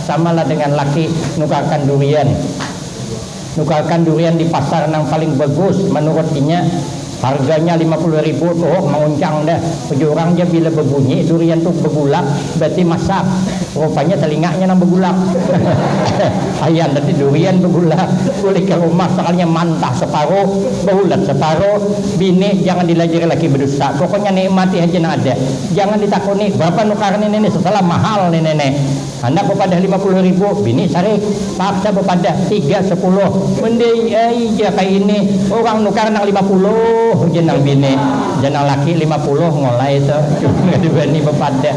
Sama lah dengan laki nukarkan durian. Nukarkan durian di pasar nang paling bagus manurut inya. Harganya lima puluh ribu tuh manguncang dah. Ujar urang ja bila babunyi durian tuh bagulak berarti masak. Rupanya telinganya nang bagulak. Ayan tadi durian bagulak. Bulik ka rumah sekalinya mantah separuh, baulat separuh. Bini, jangan dilajari laki badusta. Pokoknya nikmati haja nang ada. Jangan ditakuni, berapa nukar ni nenek sesalah mahal ni nenek. Handak bepadah lima puluh ribu, bini sarik. Paksa bepadah, tiga sepuluh. Mending ai ja kaya ini, urang nukar nang lima puluh ujar nang bini. Jar nang laki, lima puluh ngolai tu, cuma kada wani bepadah.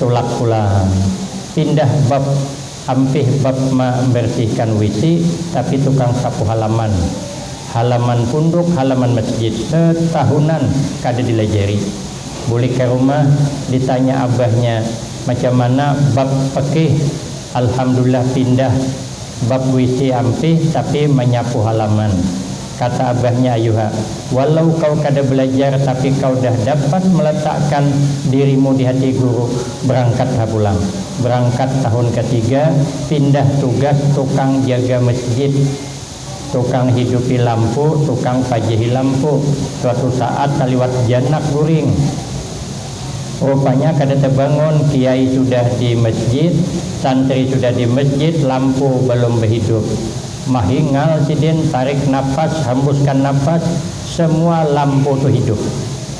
Tulak pulang. Pindah bab Ampih bab ma mbersihkan WC tapi tukang sapu halaman. Halaman punduk, halaman masjid. Setahunan kada dilajari. Bulik ka rumah, ditanya abahnya, Macam mana bab pekih? Alhamdulillah pindah bab WC ampih tapi manyapu halaman. Kata abahnya ayuha, walau kau kada belajar tapi kau dah dapat meletakkan dirimu di hati guru, berangkat ha pulang. Berangkat tahun katiga, pindah tugas tukang jaga mesjid. Tukang hidupi lampu, tukang pajehi lampu, suatu saat taliwat janak guring. Rupanya kada tebangun, kiai sudah di masjid, santri sudah di masjid, lampu belum behidup. Mahingal sidin, tarik napas, hembuskan napas, semua lampu tu hidup.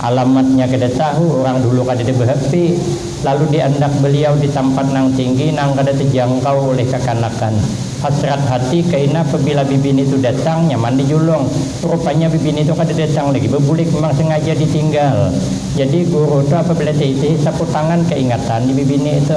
Alamatnya kada tahu, urang dulu kadada beHP, lalu di andak beliau di tampat nang tinggi nang kada tejangkau ulih kakanakan. Hasrat hati kaina pabila bibini tu datang, nyaman di julung. Rupanya bibini tu kada datang lagi bebulik, memang sengaja di tinggal. Jadi guru tu apabila taitih sapu tangan kaingatan di bibini tu.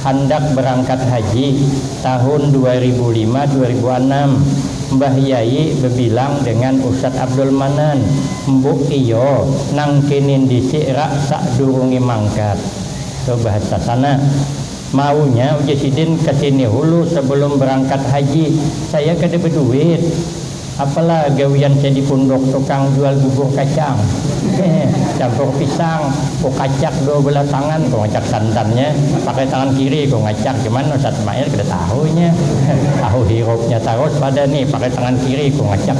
Handak berangkat haji tahun dua ribu lima dua ribu anam, mbah yai bebilang dengan ustad abdul manan, mbuk iyo nang kinin disik rak sak durungi mangkat, tuh bahasa sana, maunya uji sidin kesini hulu sebelum berangkat haji, saya kada beduit. Apalah gawian saya di punduk tukang jual bubur kacang, campur pisang, ku kacak dua belah tangan, ku ngacak santannya, pakai tangan kiri ku ngacak, cuman Ustadz Mail kada tahu inya, tahu hirupnya tarus pada ni, pakai tangan kiri ku ngacak,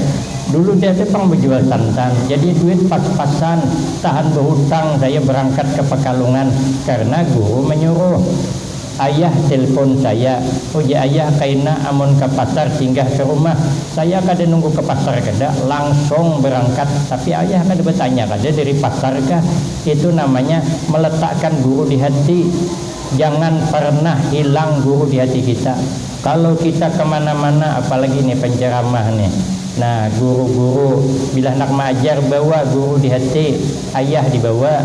dulu saya tu pang bajual santan, jadi duit pas-pasan, tahan bahutang saya berangkat ke Pekalungan karena guru menyuruh. Ayah tilpon saya, ujar ayah kaina amun ka pasar singgah ka rumah. Saya kada nunggu ka pasar kada, langsung berangkat. Tapi ayah kada batanya kada dari pasar kah? Itu namanya meletakkan guru di hati. Jangan pernah hilang guru di hati kita. Kalau kita ka mana-mana, apalagi ni penceramah ni, nah guru-guru bila handak maajar bawa guru di hati. Ayah dibawa.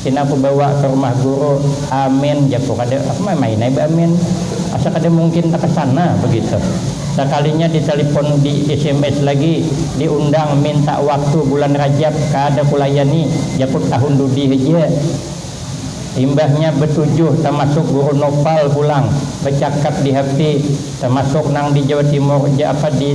Pina kubawa ka rumah guru, Amin, jaku kada, aku mamain ai ba Amin. Asa kada mungkin takasana begitu. Sakalinya di talipon, di sms lagi, di undang minta waktu bulan Rajab, kada kulayani, jakut tahun dudi haja. Imbahnya betujuh tamasuk guru Noval pulang, becakap di hp, tamasuk nang di Jawa Timur ja apa di.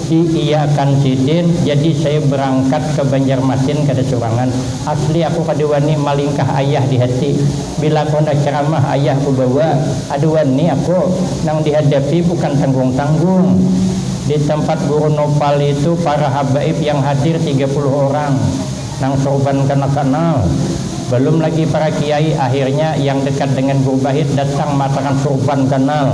Di iya kan sidin, jadi saya berangkat ke Banjarmasin kada surangan. Asli aku kada wani malingkah ayah di hati. Bila aku handak ceramah ayah ku bawa, ada wani aku. Nang dihadapi bukan tanggung-tanggung. Di tempat guru Nopali tu para habaib yang hadir tiga puluh orang. Nang sorban kana kanal. Balum lagi para kiai, akhirnya yang dekat dengan guru Bahit datang maatakan sorban kanal.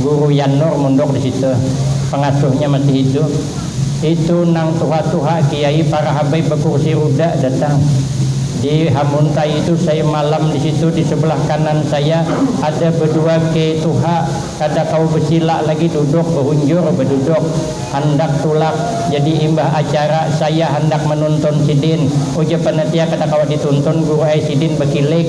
Guru Yan Nur mundur di situ. Pangasuhnya masih hidup. Itu nang tuha-tuha kiai parahabai bakursi ruda datang. Di hamuntai itu saya malam di situ di sebelah kanan saya ada bedua ke tuha kada kawa besilak lagi duduk behunjur beduduk. Handak tulak. Jadi imbah acara saya handak menuntun sidin. Ujar panitia kada kawa dituntun guru ai sidin bekilik.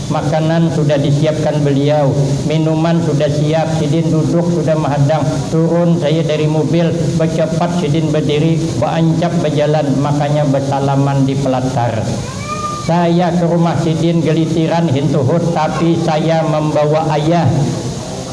Makanan sudah disiapkan beliau, minuman sudah siap, sidin duduk sudah mahadang, turun saya dari mubil, bacapat sidin badiri, baancap bajalan, makanya basalaman di palatar. Saya ke rumah sidin galitiran hintuhut tapi saya mambawa ayah.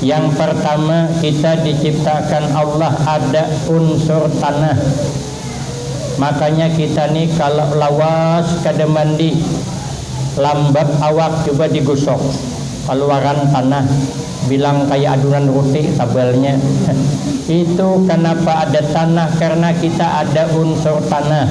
Yang partama kita diciptaakan Allah ada unsur tanah, makanya kita ni kalo lawas kada mandi lambab awak cuba digusok kaluaran tanah bilang kaya adunan ruti tabalnya itu kanapa ada tanah karna kita ada unsur tanah.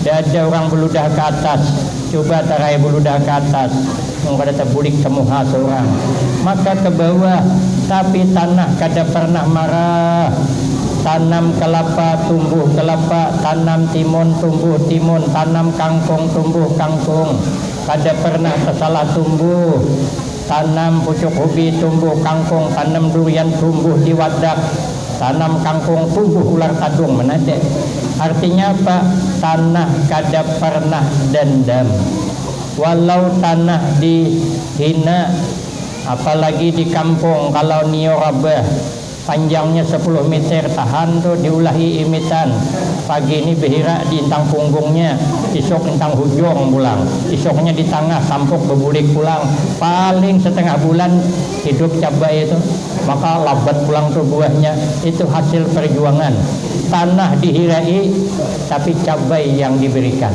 Dada urang buludah ka atas, cuba taraya buludah ka atas, nang kada tabulik ka muha saurang, maka ka bawah, tapi tanah kada parnah marah, tanam kalapa tumbuh kalapa, tanam timun tumbuh timun, tanam kangkung tumbuh kangkung, kada parnah tasalah tumbuh. Tanam pucuk ubi tumbuh kangkung tanam durian tumbuh di wadak tanam kangkung tumbuh ular kadung menate artinya apa tanah kada pernah dendam walau tanah di hina apalagi di kampung kalau nio rabah. Panjangnya sapuluh miter tahan tu diulahi imitan, pagi ni bihirak di intang punggungnya, isuk intang hujung pulang, isuknya di tangah sampuk babulik pulang, paling satangah bulan hidup cabai itu, maka labat pulang tu buahnya, itu hasil parjuangan, tanah dihirai tapi cabai yang diberikan.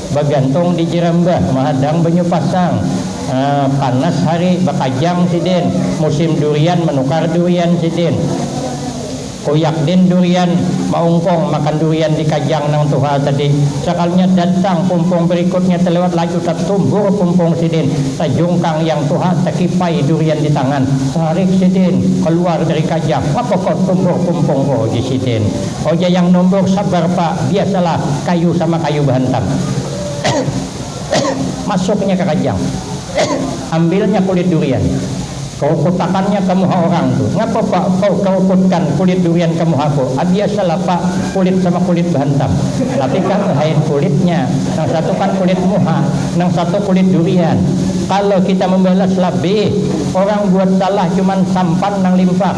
Bagantung di jiram bah, mahadang banyu pasang. Haa, panas hari, bakajang sidin. Musim durian, manukar durian sidin. Kuyak din durian, maungkung makan durian di kajang nang tuha tadi. Sakalinya datang pumpung berikutnya telewat laju tatumbur pumpung sidin. Tajungkang yang tuha, takipai durian di tangan. Tarik sidin kaluar dari kajang. Ngapa kau tumbur pumpungku? uji sidin. Oja yang nombor sabar pa, biasa lah kayu sama kayu bahantam. Masuknya ka kajang. Ambilnya kulit durian. Kerukutakannya ka muha orang tu. Ngapa pa kau kerukutkan kulit durian ka muha ku? Ah biasa lah pa, kulit sama kulit bahantam. Tapi kah behain kulitnya, nang satu kan kulit muha, nang satu kulit durian. Kalo kita membalas labih, orang buat salah cuman sampan nang limpah.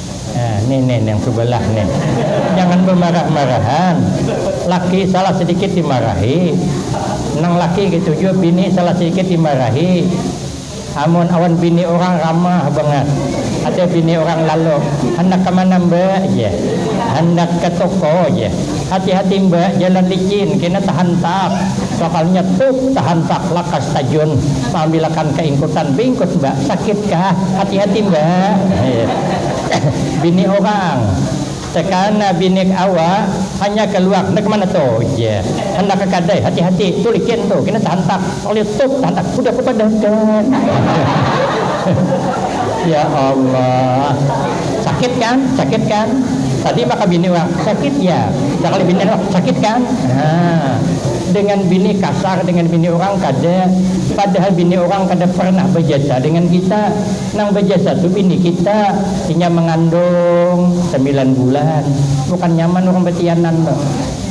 Nah, nih nih yang subalah nih. Jangan bamarah-marahan. Laki salah sedikit dimarahi. Nang laki gitu jua bini salah sedikit dimarahi. Amun awan bini urang ramah bangat. Ada bini urang lalu, handak ka mana mbak jar. Handak ka toko jar. Hati-hati mbak jalan licin kena tahantak. Sakalnya tup tahantak lakas tajun. Taambilakan ka ingkutan bingkus mbak. Sakit kah? Hati-hati ndak? Bini urang, Tekana binik awak hanyar kaluar, ndak kemana tu ja, handak ka kadai, hati-hati tu licin tu, kena tahantak, terletup tahantak, hudah ku padahkan. Ya Allah. Sakit kan? Sakit kan? Tadi maka bini urang, sakit ya? Sakali bini urang, sakit kan? Nah. Dengan bini kasar dengan bini urang kada, padahal bini urang kada pernah bajasa dengan kita, nang bajasa tu bini kita, inya mangandung samilan bulan, bukan nyaman urang batianan tu,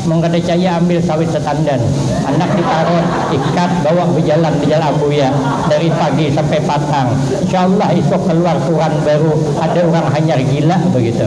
mun kada caya ambil sawit satandan, anak ditarut, ikat, bawa bajalan di jalan ambuya dari pagi sampai patang, insya Allah isuk kaluar kuran baru ada urang hanyar gila bagitu.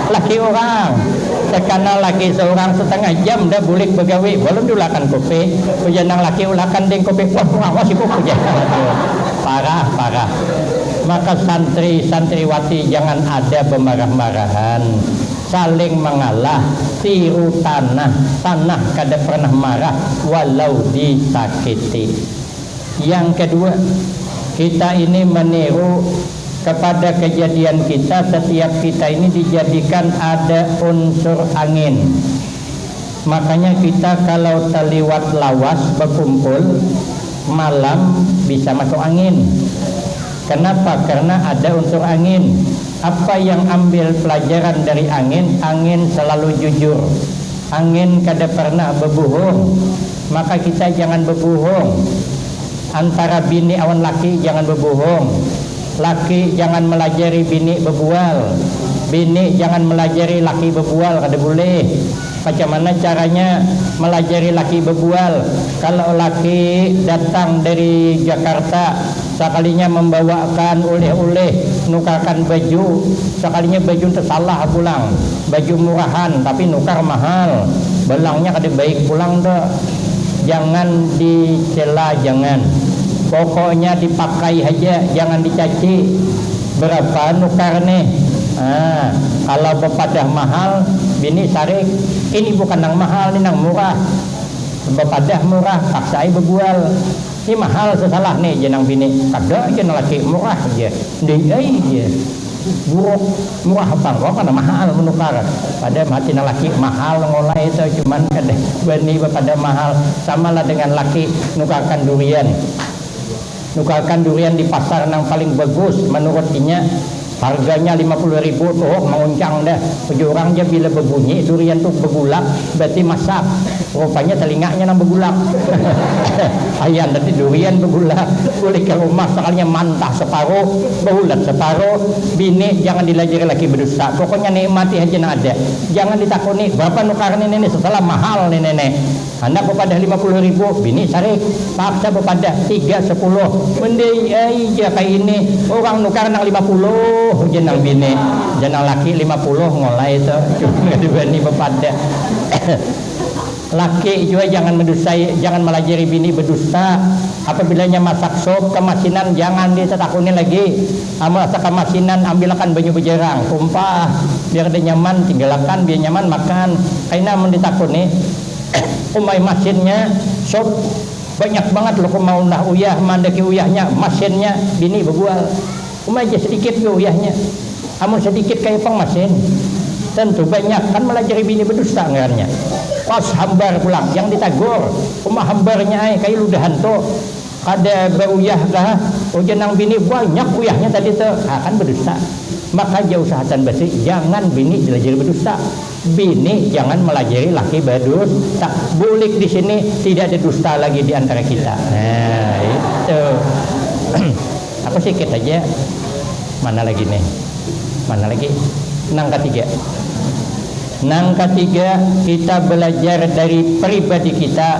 Laki urang, Sakana laki saurang satangah jam nda bulik bagawi, balum diulahakan kopi. Ujar nang laki, Ulahakan ding kopi. Wah kurang wasit ku, ujar nang laki. Parah, parah. Maka santri, santriwati jangan ada bamarah-marahan. Saling mangalah, tiru tanah, tanah kada pernah marah walau disakiti. Yang kedua, kita ini maniru. kepada kejadian kita setiap kita ini dijadikan ada unsur angin makanya kita kalau taliwat lawas bakumpul malam bisa masuk angin kenapa karna ada unsur angin apa yang ambil pelajaran dari angin angin selalu jujur angin kada pernah babuhung maka kita jangan babuhung. Antara bini awan laki jangan babuhung, laki jangan malajari bini babual, bini jangan malajari laki babual kada bulih. Macam mana caranya malajari laki babual, kalau laki datang dari Jakarta sakalinya mambawaakan uleh-uleh nukarkan baju, sakalinya baju tu salah pulang, baju murahan tapi nukar mahal, balangnya kada baik pulang tu. jangan dicela jangan pokoknya dipakai haja jangan dicaci berapa nukar nih haa kalau bepadah mahal bini sarik ini bukan nang mahal nih nang murah bepadah murah paksa ai bebual nih mahal sesalah nih jar nang bini kada jar nang laki murah jar ndai ai jar. Buruk, murah pang kawa pang nah mahal manukar, pada mati nang laki mahal mengolai itu cuman kada bani bapadah mahal, sama lah dengan laki nukarkan durian, nukarkan durian di pasar nang paling bagus manurut inya harganya lima puluh ribu tuh manguncang dah. Bejurang ja bila bebunyi durian tu begulak berarti masak, rupanya telinganya nang begulak ayan tadi durian begulak bulik ka rumah sekalinya mantah separuh beulat separuh, bini jangan dilajari laki bedusta pokoknya nikmati haja nang ada jangan ditakuni berapa nukaran ini nih setelah mahal nih nenek. Handak bapadah lima puluh ribu, bini sarik. Paksa bapadah tiga sapuluh. Mendai ai ja kaya ini, urang nukar nang lima puluh, ujar nang bini. Jar nang laki, lima puluh ngolai tu, cuman kada bani bapadah. Laki jua jangan mandusai, jangan malajari bini badusta. Apabila inya masak sup, kamasinan jangan ditatakuni lagi. Am rasa kamasinan ambilakan banyu bajarang, tumpah, biar ada nyaman tinggalakan biar nyaman makan, kaina amun ditakuni umai masinnya sup banyak bangat lukum maunlah uyah maandaki uyahnya masinnya bini babual umai ja sadikit jua uyahnya amun sadikit kaya pang masin tentu banyak kan malajari bini badusta ngarannya kos hambar pulang yang ditagur uma hambarnya ai kaya ludahan tu. Kada bauyah kah? Ujar nang bini, banyak uyahnya tadi tu. Ha, kan badusta. Maka jausahatan basi, jangan bini dilajari badusta. Bini jangan malajari laki badusta. Bulik di sini, tidak ada dusta lagi di antara kita. Nah, itu. Aku sikit haja. Mana lagi nih? Mana lagi? Nang katiga. Nang katiga, kita balajar dari pribadi kita.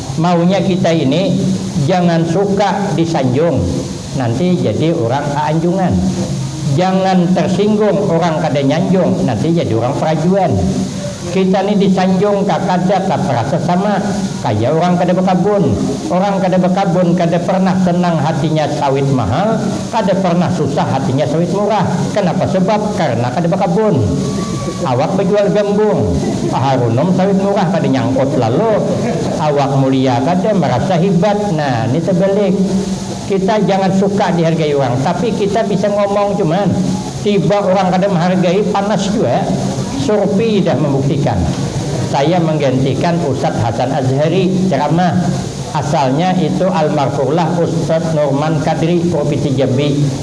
Maunya kita ini jangan suka disanjung, nanti jadi urang aanjungan. Jangan tersinggung urang kada nyanjung, nanti jadi urang perajuan. Kita ni disanjung ka kada ka perasa sama kaya urang kada bekabun. Urang kada bekabun kada pernah senang hatinya sawit mahal, kada pernah susah hatinya sawit murah. Kenapa sebab? Karena kada bekabun. Awak bajual gambung, paharunum sawit murah kada nyangkut lalu awak mulia kada marasa hibat nah ni tabalik kita jangan suka dihargai urang tapi kita bisa ngomong cuman tiba urang kada mahargai panas jua surpi dah mambuktikan saya manggantikan usat hasan azhari ceramah asalnya itu almarfurlah ustad nurman kadri purvisi jambi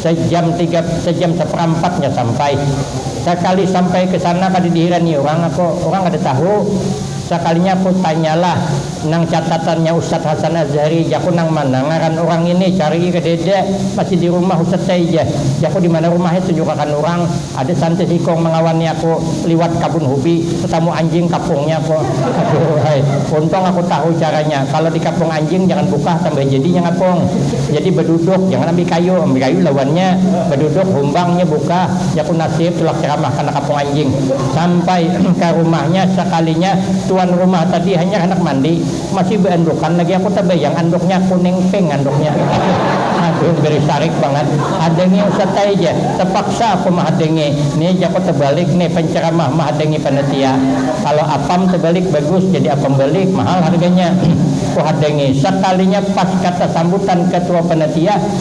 Sejam tiga, sejam seperampat nya sampai. Sakali sampai ke sana kada dihirani urang aku, urang kada tahu. Sakalinya aku tanyalah nang catatannya Ustadz Hasan Azhari, jaku nang mana ngaran urang ngini, carii kadada, masih di rumah Ustadz taija, jaku dimana rumahnya tunjukakan urang. Ada santis ikung malawani aku liwat kabun hubi, tetamu anjing kapungnya ko. Aduhai, untung aku tahu caranya, kalo di kapung anjing jangan bukah tambah jadinya ngapung. Jadi baduduk, jangan ambil kayu, ambil kayu lawannya, baduduk humbangnya bukah, jaku nasib tulak ceramah kana kapung anjing. Sampai ka rumahnya sakalinya tuan rumah tadi hanyar handak mandi, Masih beandukan lagi aku tabayang anduknya kuning pink anduknya aduh beri sarik bangat hadangi ustaz ai ja tapaksa aku mahadangi ni ja aku tabalik ni pancaramah mahadangi panitia kalo apam tabalik bagus jadi apam balik mahal harganya ku hadangi sakalinya pas kata sambutan katua panitia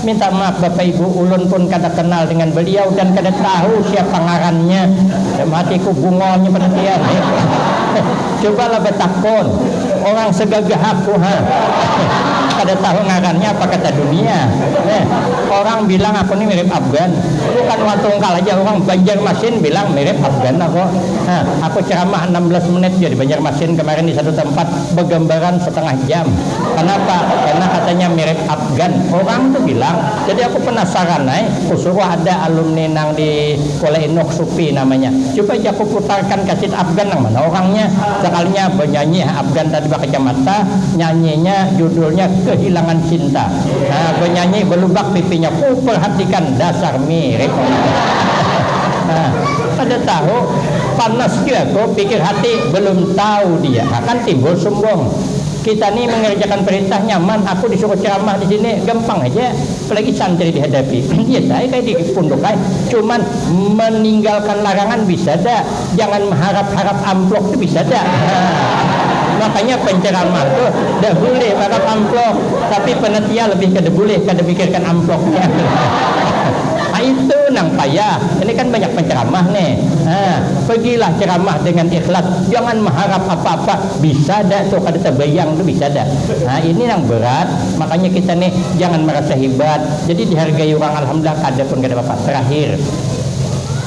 Minta maaf bapak ibu, ulun pun kada kenal dengan beliau dan kada tahu siapa ngarannya. Dalam hatiku, bungolnya penantian nih. Cubalah batakun orang segagah aku ha. Kada tahu ngarannya apa kata dunia. Orang bilang aku nih mirip Afgan. Bukan wan tungkal aja, orang Banjarmasin bilang mirip Afgan aku. Aku ceramah anam belas menit ja di Banjarmasin kemarin di satu tempat. begambaran setengah jam kenapa karena katanya mirip Afgan orang tu bilang jadi aku penasaran ai ku suruh ada alumni nang di Kuala Inuk Supi namanya cuba ja ku putarkan kasit Afgan nang mana orangnya sekalinya benyanyi ha Afgan tadi bakacamata nyanyinya judulnya kehilangan cinta ha benyanyi belubak pipinya ku perhatikan dasar mirip orang tu ha. Kada tahu, panas jua aku, pikir hati, belum tahu dia akan timbul sumbung. Kita ni mengerjakan perintah nyaman, aku disuruh ceramah di sini gampang haja, apalagi santri dihadapi. Biasa ai kaya di punduk ai, cuman meninggalkan larangan bisa da, jangan meharap-harap amplok tu bisa da. Ha, makanya penceramah tu da bulih barap amplok, tapi penitia lebih kada bulih kada mikirkan amploknya. Aitu nang payah, ini kan banyak penceramah ne, ha pegilah ceramah dengan ikhlas jangan meharap apa-apa, bisa dak tuh kada tebayang tuh bisa dak, ha ini nang berat, makanya kita nih jangan merasa hebat, jadi dihargai urang alhamdulillah kada pun kada apa-apa, terakhir.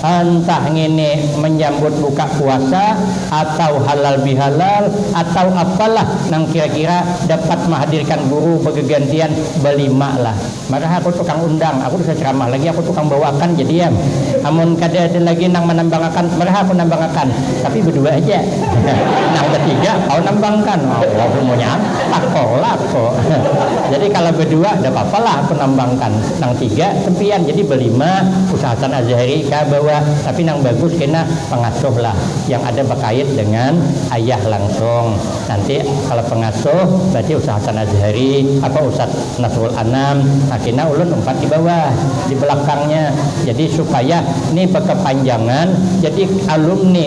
Entah ngini menyambut buka puasa atau halal bihalal atau apalah nang kira-kira dapat mahadirkan guru begegantian belima lah. Marah aku tukang undang, aku bisa ceramah lagi aku tukang bawakan jadi am. Amun kada ada lagi nang manambangakan marah aku nambangakan, tapi bedua haja. Nang betiga kawa nambangkan. Allahumma nyaam, takolah aku. Jadi kalo bedua dapapa lah aku nambangkan. Nang tiga sempian jadi belima usahakan azahari ka bawa tapi nang bagus kena pengasuh lah yang ada bakait dengan ayah langsung nanti kalo pengasuh berarti usahakan azahari apa ustad nasrul anam nah kena ulun umpat di bawah di belakangnya jadi supaya ni bekepanjangan jadi alumni.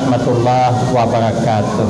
Warahmatullahi wabarakatuh.